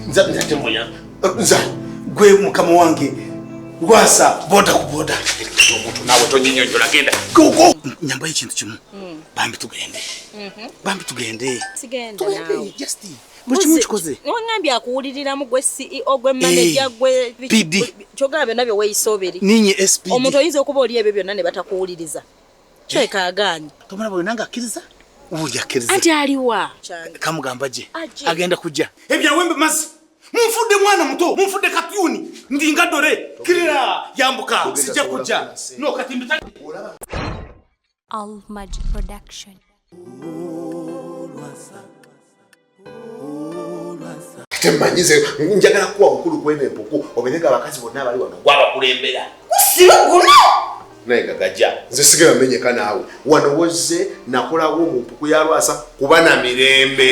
nza nza temoya nza gwe mukama wange gwasa boda ku boda omuntu nawe tonyinyonyola genda gogo nyamba ekintu kimu hmm. bambi tugende mhm. bambi tugende tugende just buli kimu kikoze wangambye akuwuliriramu gwe ceo gwe manaja eh, gwe pd kyogaba byonna bye weyisoberi ninye sp omuntu oyinza okuba oli ebyo byonna ne batakuwuliriza Kyeka agaanyi. Tomala bwe nanga akkiriza. Ubundi akkiriza. Anti aliwa. Kamugamba je. Agenda kujja. Ebya wembe mazi. Munfudde mwana muto, munfudde kapyuni, ndinga dore. Kirira yambuka, sijja kujja. No kati mbitali. All Magic Production. temanyize njagala kuwa bukulu kwene empuku obeerega abakazi bonna abali wano gwabakulembera gusiba guno naye gagaja nze sigera menyeka naawe wano wozze nakolawo mu mpuku ya lwasa kuba na mirembe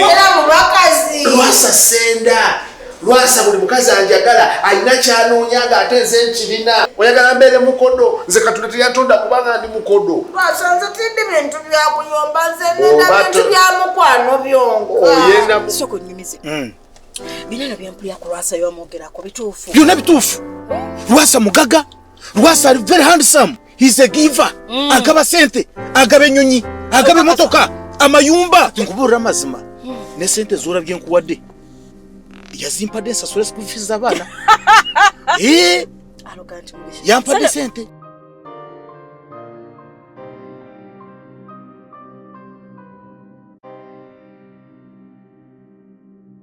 lwasa senda lwasa buli mukazi anjagala alina kyanoonya nga ate nze nkirina oyagala mbeere mukodo nze katonda teyatonda kubanga ndi mukodo lwasa nze tindi bintu byakuyomba nze nina bintu bya mukwano byonka oyenda soko nyumize hmm. binana byampulira ku lwasa yomwogerako bituufu byona bituufu lwasa mugaga lwasa ali very handsome he's a giver mm. agaba sente agaba enyonyi agaba emotoka amayumba nkubuulira amazima mm. ne sente zora byenkuwadde yazimpadde nsasule school fees zabaana eh? yampadde sente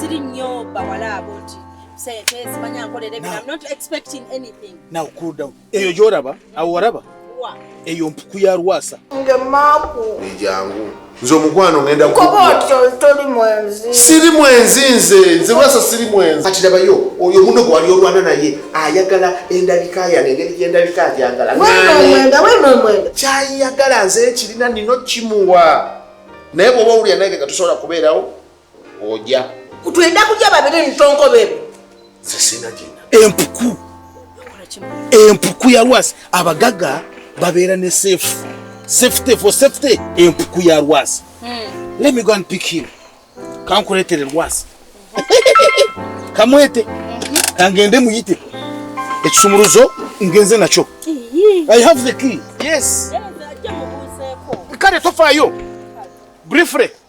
siri nnyo bawala abo nti sente zimanya nkolera ebintu i'm not expecting anything now cool down eyo gyolaba awo waraba eyo mpuku ya lwasa ejangu nze omukwano ngenda siri mwenzi nze nze lwasa siri mwenzi kati labayo oyo muno gwewali olwana naye ayagala endabika yange engeri gyendabika agyagala kyayagala nze ekirina nino kimuwa naye bwoba owulira nange nga tusobola kubeerawo oja kutwenda kuja babiri ntonko bebe sesina jina empuku empuku ya lwasi abagaga babera ne safe safety for safety empuku ya lwasi hmm. let me go and pick him kankuletere lwasi kamwete mhm. kangende muyite ekisumuluzo ngenze nakyo i have the key yes kale tofayo briefly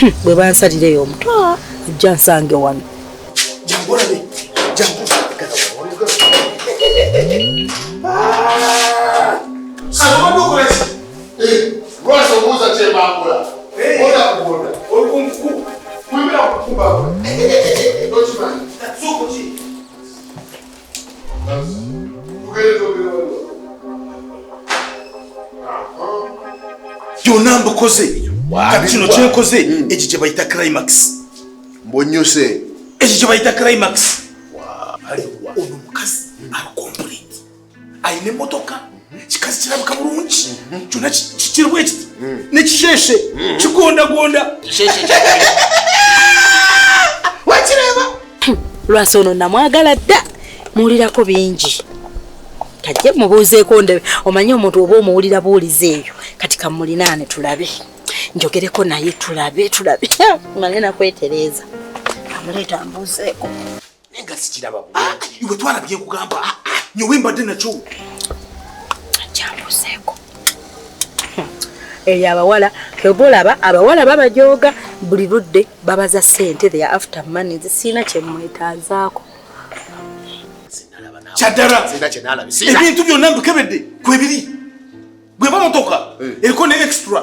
hmm, bwe bansalira eyo omuto ajja ah, nsange wano Thank you. byonna mbukoze kati kino kyenkoze hmm. ekyo kye bayita climax mbonyose ekyo kye bayita climax ono mukazi alikompuleti alina emotoka kikazi kirabika bulungi kyona kirimu ekiti nekisheshe kigondagonda wakireba lwasa ono namwagala dda muwulirako bingi kajje mubuuzeeko ndebe omanyi omuntu oba omuwulira buwuliza eyo kati kamulinaane tulabe njogereko naye tulabe tulabe male nakwetereeza amuleeta mbuuzeeko naye nga sikiraba bulungi ah, iwe twala byekugamba ah, ah, nyowe mbadde nakyo kyambuseeko eyo abawala kyoba olaba abawala babajooga buli ludde babaza sente the after money zisiina kyemwetaazaako kyaddala ebintu byonna mbikebedde kwebiri gwe bamotoka eh. eriko ne extra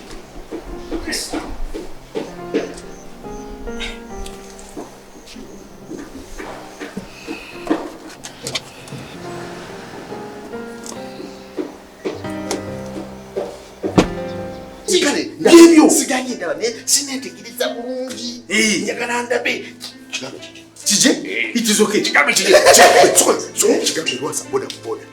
byebyo sigaanye ndaba naye sineetegereza bulungi njagala ndabe kije itizoke kigambe kije kigambe lwasa boda boda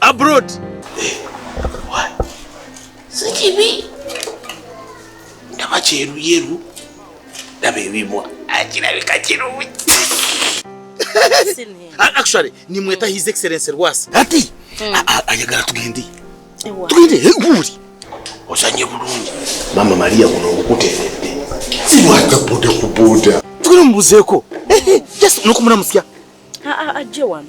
abroad eh, sikibi ndaba kyeruyeru ndaba ebibwa akirabika kirungi actually nimweta his excellence rwasi ati hmm. ayagala tugende tugende eguli ozanye bulungi mama maria guno ngukuteredde siwata boda ku boda tugende mubuzeeko eh, eh, just nokumulamusya ajje wano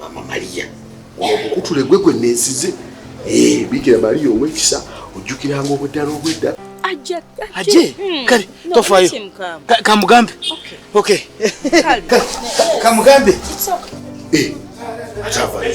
mama maria okukutule gwe gwe nensize eh, bikira maria owekisa ojjukiranga obweddala obwedda aje hmm. kale tofayo kamugambe okay kamugambe eh, atavayo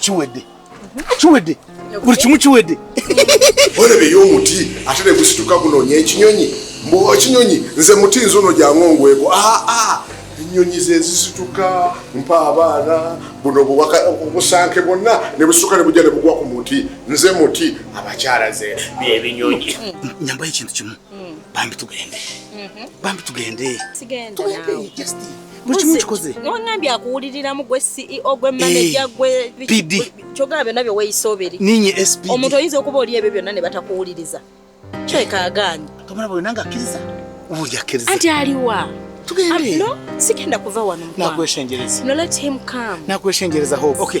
kiwedde kiwedde buli kimu kiwedde olebeyo omuti ate negusituka gunonya ekinyonyi mbu ekinyonyi nze muti nze ono gyangongweko aa ah, ah. enyonyi zezisituka mpa abaana buno obusanke bwonna nebusuka nebujja nebugwa ku muti nze muti abakyala ze byebinyonyi nyambayo ekintu kimu bambi tugende bambi tugende buli kimu kikoze nongambye akuwuliriramu gwe ceo gwe manaja eh, gwe pd kyogamba byonna bye weeyisa oberi ninye sp omuntu oyinza okuba oli ebyo byonna ne batakuwuliriza kyekaagaanyi tomala buli nange akkiriza buli akkiriza anti aliwa tugende no sigenda kuva wano nakweshenjereza no let him come nakweshenjereza hope okay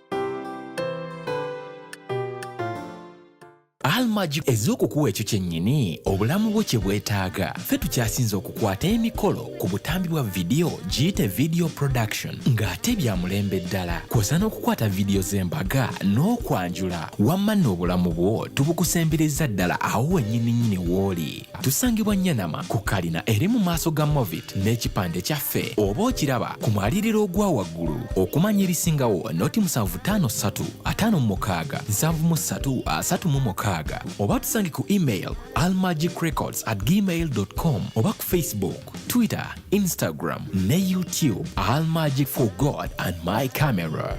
almagi ez'okukuwa ekyo kyennyini obulamu bwo kye bwetaaga ffe tukyasinze okukwata emikolo ku butambi bwa vidiyo giyite video production ng'ate bya mulembe ddala kwosa n'okukwata vidiyo z'embaga n'okwanjula wamma n'obulamu bwo tubukusembereza ddala awo wennyininyini w'oli tusangibwa nyanama ku kalina eri mu maaso ga movit n'ekipande kyaffe oba okiraba ku mwaliriro ogwa waggulu okumanya ebisingawo noti 753 oba tusange ku email almagicrecords at gmail com oba ku facebook twitter instagram ne youtube almagic for god and my camera